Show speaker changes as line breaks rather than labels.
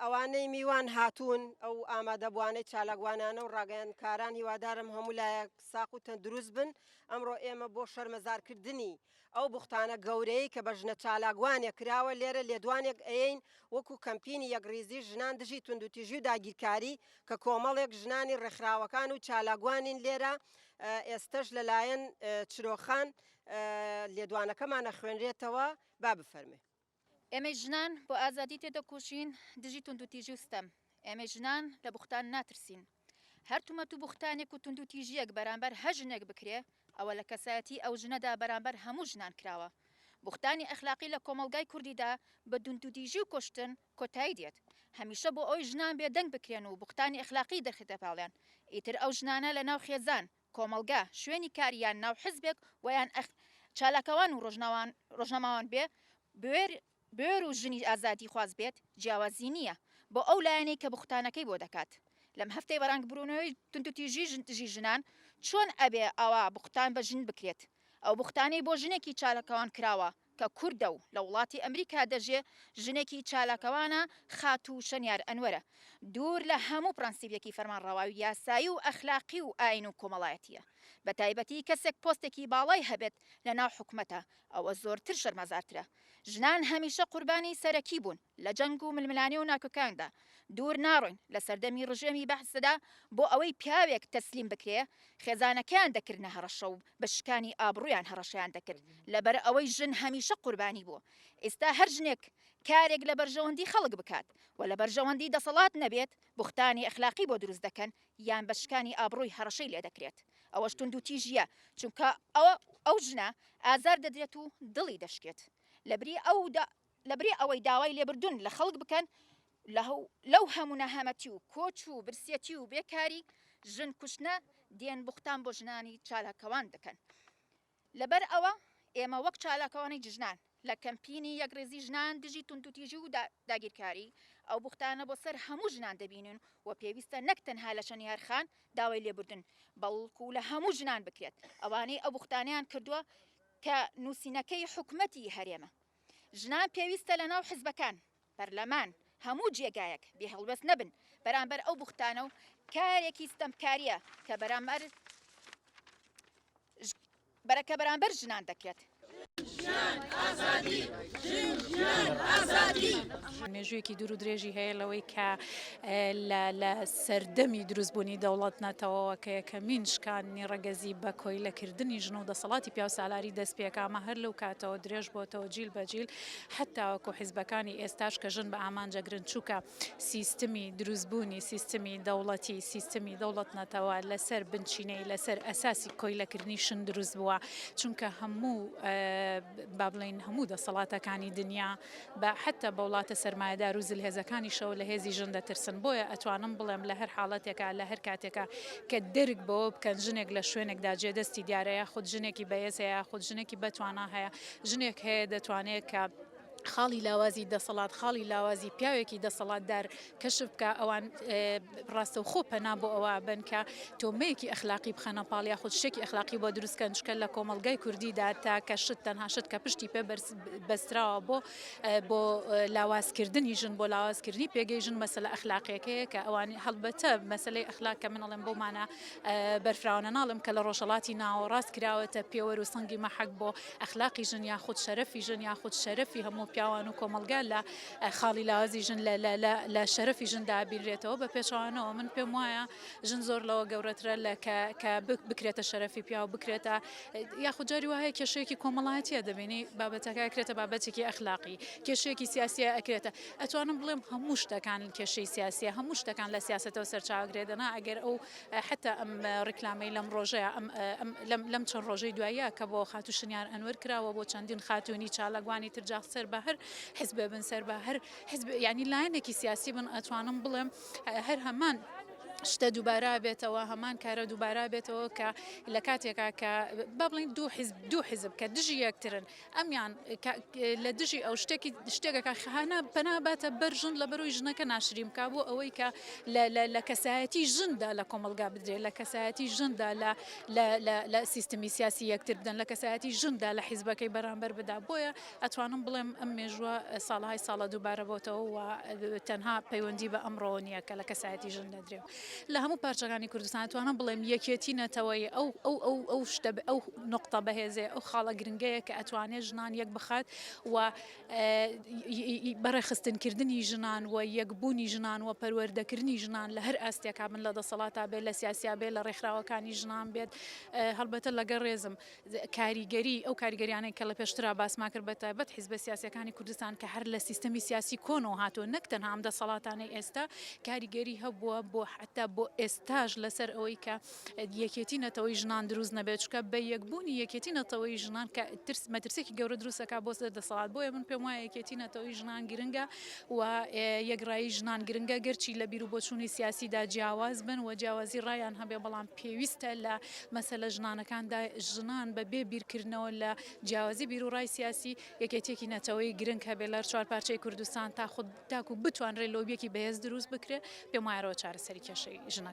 ئەوانەی میوان هاتوون ئەو ئامادەبوانەی چالاکوانانە و ڕاگەیاندکاران هیوادارم هەموو لایەک ساق و تەندروست بن ئەمڕۆ ئێمە بۆ شەرمەزارکردنی ئەو بوختانە گەورەی کە بە ژنە چالاکوانێک کراوە لێرە لێدوانێک ئەین وەکو کەمپینی یەکڕیزی ژنان دژی توندوتیژی و داگیرکاری کە کۆمەڵێک ژنانی ڕێکخراوەکان و چالاکوانین لێرە ئێستەش لەلایەن چرۆخان لێدوانەکەمان ئەخوێنرێتەوە، با بفەرموێ. ئێمەی
ژنان بۆ ئازادی تێدەکۆشین دژی توندوتیژی و ستەم، ئێمەی ژنان لە بوختان ناترسین، هەر تومەت و بوختانێک و توندوتیژییەک بەرامبەر هەر ژنێک بکرێ ئەوە لە کەسایەتی ئەو ژنەدا بەرامبەر هەموو ژنان کراوە، بوختانی ئەخلاقی لە کۆمەڵگای کوردیدا بە دوندوتیژی و کوشتن کۆتایی دێت، هەمیشە بۆ ئەوەی ژنان بێدەنگ بکرێن و بوختانی ئەخلاقی دەخرێتە پاڵیان ئیتر ئەو ژنانە لەناو خێزان کۆمەڵگا، شوێنی کار یان ناو حزبێک وەیان ئەخ چالاکوان و ڕۆژناوان ڕۆژنامەوان بێ بوێر بوێر و ژنی ئازادی خواز بێت جیاوازی نییە بۆ ئەو لایەنەی کە بوختانەکەی بۆ دەکات لەم هەفتەی بەرانگ برونەوەی توندوتیژی ژن دژی ژنان چۆن ئەبێ ئەوا بوختان بە ژن بکرێت ئەو بوختانەی بۆ ژنێکی چالاکوان کراوە کە کوردە و لە وڵاتی ئەمریکا دەژێ، ژنێکی چالاکوانە، خاتوو شەنیار ئەنوەرە. دوور لە هەموو پڕەنسیپێکی فەرمانڕەوای و یاسایی و ئەخلاقی و ئایین و کۆمەڵایەتییە. بە تایبەتی کەسێک پۆستێکی باڵای هەبێت لە ناو حکومەتا، ئەوە زۆرتر شەرمەزارترە. ژنان هەمیشە قوربانی سەرەکی بوون. لە جەنگ و ململانێ و ناکۆکاندا دوور ناڕۆین، لە سەردەمی ڕژێمی بەعسدا بۆ ئەوەی پیاوێک تەسلیم بکرێ خێزانەکەیان دەکردنە هەڕەشە و بە شکانی ئابڕوویان هەڕەشەیان دەکرد لەبەر ئەوەی ژن هەمیشە قوربانی بووە ئیستا هەر ژنێک کارێک لە بەرژەوەندی خەڵک بکات و لە بەرژەوەندی دەسەڵات نەبێت بوختانی ئەخلاقی بۆ دروست دەکەن یان بە شکانی ئابڕووی هەڕەشەی لێ دەکرێت ئەوەش توندوتیژییە چونکە ئەو ژنە ئازار دەدرێت و دڵی دەشکێت لەبری ئەو لەبری ئەوەی داوای لێبردون لە خەڵک بکەن لەو هەموو نەهامەتی و کۆچ و برسیەتی و بێکاری ژن کوشتنە دێن بوختان بۆ ژنانی چالاکەوان دەکەن لەبەر ئەوە ئێمە وەک چالاکەوانی جژنان لە کەمپینی یەکڕێزی ژنان دژی توندوتیژی و داگیرکاری ئەو بوختانە بۆ سەر هەموو ژنان دەبینن و پێویستە نەک تەنها لە شەنیارخان داوای لێبوردن بەڵکو لە هەموو ژنان بکرێت ئەوانەی ئەو بوختانیان کردووە کە نووسینەکەی حکومەتی هەرێمە ژنان پێویستە لە ناو حزبەکان، پەرلەمان، هەموو جێگایەک بێ هەڵوێست نەبن بەرامبەر ئەو بوختانە و کارێکی ستەمکارییە کە بەرامبەر بەرەکە بەرامبەر ژنان دەکرێت.
مێژوویەکی دوور و درێژی هەیە لەوەی کە لە لە سەردەمی دروستبوونی دەوڵەت نەتەوەوە کە یەکەمین شکاندنی ڕەگەزی بە کۆیلەکردنی ژن و دەسەڵاتی پیاوسالاری دەست پێ کرد، ئەمە هەر لەو کاتەوە درێژ بۆتەوە جیل بە جیل حەد تاوەکو حیزبەکانی ئێستاش کە ژن بە ئامانج ئەگرن چوکە سیستمی دروستبوونی سیستمی دەوڵەتی سیستمی دەوڵەت نەتەوە لە سەر بنچینەی لە سەر ئەساسی کۆیلەکردنی شن دروست بووە چونکە هەموو با بڵێین هەموو دەسەڵاتەکانی دنیا بە حەتە بە وڵاتە سەرمایەدار و زلهێزەکانیشەوە لە هێزی ژن دەترسن، بۆیە ئەتوانم بڵێم لە هەر حاڵەتێکا لە هەر کاتێکا کە دەرک بەوە بکەن ژنێک لە شوێنێکدا جێ دەستی دیارە یاخود ژنێکی بەهێز هەیە یاخود ژنێکی بەتوانا هەیە ژنێک هەیە دەتوانێت کە خاڵی لاوازی دەسەڵات خاڵی لاوازی پیاوێکی دەسەڵاتدار کەشف بکە ئەوان ڕاستەوخۆ پەنا بۆ ئەوە ئەبەن کە تۆمەیەکی ئەخلاقی بخەنە پاڵ یاخود شتێکی ئەخلاقی بۆ دروست کەن چکە لە کۆمەڵگای کوردیدا تاکە شت تەنها شت کە پشتی پێ بەستراوە بۆ بۆ لاوازکردنی ژن بۆ لاوازکردنی پێگەی ژن مەسلە ئەخلاقیەکەیە کە ئەوانی هەڵبەتە مەسلەی ئەخلاق کە من ئەڵێم بۆمانە بەرفراونە ناڵم کە لە ڕۆژەڵاتی ناوەڕاست کراوەتە پێوەر و سەنگی مەحەک بۆ ئەخلاقی ژن یاخود شەرەفی ژن یاخود شەرەفی هەموو پیاوان و کۆمەڵگا لە خاڵی لاوازی ژن لە شەرەفی ژندا بینرێتەوە بە پێچوانەوە من پێم وایە ژن زۆر لەوە گەورەترە لە کە بکرێتە شەرەفی پیا و بکرێتە یاخود جاری وایە کێشەیەکی کۆمەڵایەتە دەبینی بابەتەکە کرێتە بابەتێکی ئەخلاقی کێشەیەکی سیاسیە ئەکرێتە ئەتوانم بڵێم هەموو شتەکان کێشەی سیاسیە هەموو شتەکان لە سیاستەوە سەرچاوگرێدەنا ئەگەر ئەو حتا ئەم ڕیکلامی لەم ڕۆژەیە لەم چەند ڕۆژەی دواییە کە بۆ خاتوشنیان ئەنوەر کراوە بۆ چەندین خاتونی چالاگوانی ترجاخ سەر بە هەر حزب بن سەر بە هەر حزب یعنی لایەنێکی سیاسی بن ئەتوانم بڵێم هەر هەمان شتە دووبارە بێتەوە هەمان کارە دووبارە بێتەوە کە لە کاتێکا کە با بڵین دوو حیزب دوو حیزب کە دژی یەکترن ئەمیان لە دژی ئەو شتێکی شتێکەکە خانە پەناباتە بەرژن لە بەرەوەی ژنەکە ناشریم کا بۆ ئەوەی کە لە کەسایەتی ژندا لە کۆمەلگا بدرێت لە کەسایەتی ژندا لە سیستمی سیاسی یەکتر بدەن لە کەسایەتی ژندا لە حیزبەکەی بەرامبەر بدا بۆیە ئەتوانم بڵێم ئەم مێژووە ساڵەهای ساڵە دووبارە بۆتەوە و تەنها پەیوەندی بە ئەمڕۆوە نییە کە لە کەسایەتی ژن دەدرێ و لە هەموو پارچەکانی کوردستان توانم بڵێم یەکێتی نەتەوەی ئەو ئەو ئەو ئەو شتە ئەو نقطە بەهێزێ ئەو خاڵە گرنگەیە کە ئەتوانێت ژنان یەک بخات و بەڕێخستنکردنی ژنان و یەکبوونی ژنان و پەروەردەکردنی ژنان لە هەر ئاستێکا بن لە دەسەڵاتا بێت لە سیاسیا بێت لە ڕێکخراوەکانی ژنان بێت هەڵبەتە لەگەڵ ڕێزم کاریگەری ئەو کاریگەریانەی کە لە پێشترا باسمان کرد بە تایبەت حیزبە سیاسیەکانی کوردستان کە هەر لە سیستەمی سیاسی کۆنەوە هاتووە نەک تەنها ئەم دەسەڵاتانەی ئێستا کاریگەری هەبووە بۆ حەتا بۆ ئێستاش لەسەر ئەوەی کە یەکێتی نەتەوەی ژنان دروست نەبێت چونکە بە یەکبوونی یەکێتی نەتەوەی ژنان کە ترس مەترسێکی گەورە دروست دەکات بۆ سەر دەسەڵات بۆیە من پێم وایە یەکێتی نەتەوەی ژنان گرنگە و یەکڕایی ژنان گرنگە گەرچی لە بیرو بۆچوونی سیاسیدا جیاواز بن و جیاوازی ڕایان هەبێ بەڵام پێویستە لە مەسەلە ژنانەکان دا، ژنان بە بێ بیرکردنەوە لە جیاوازی بیروڕای سیاسی، یەکێتیەکی نەتەوەیی گرنگ هەبێت لە چوار پارچەی کوردستان تا خود تاکو بتوانرێت لۆبیەکی بەهێز دروست بکرێت، پێم وایە ئەوە چارەسەری کێشەی ژنە.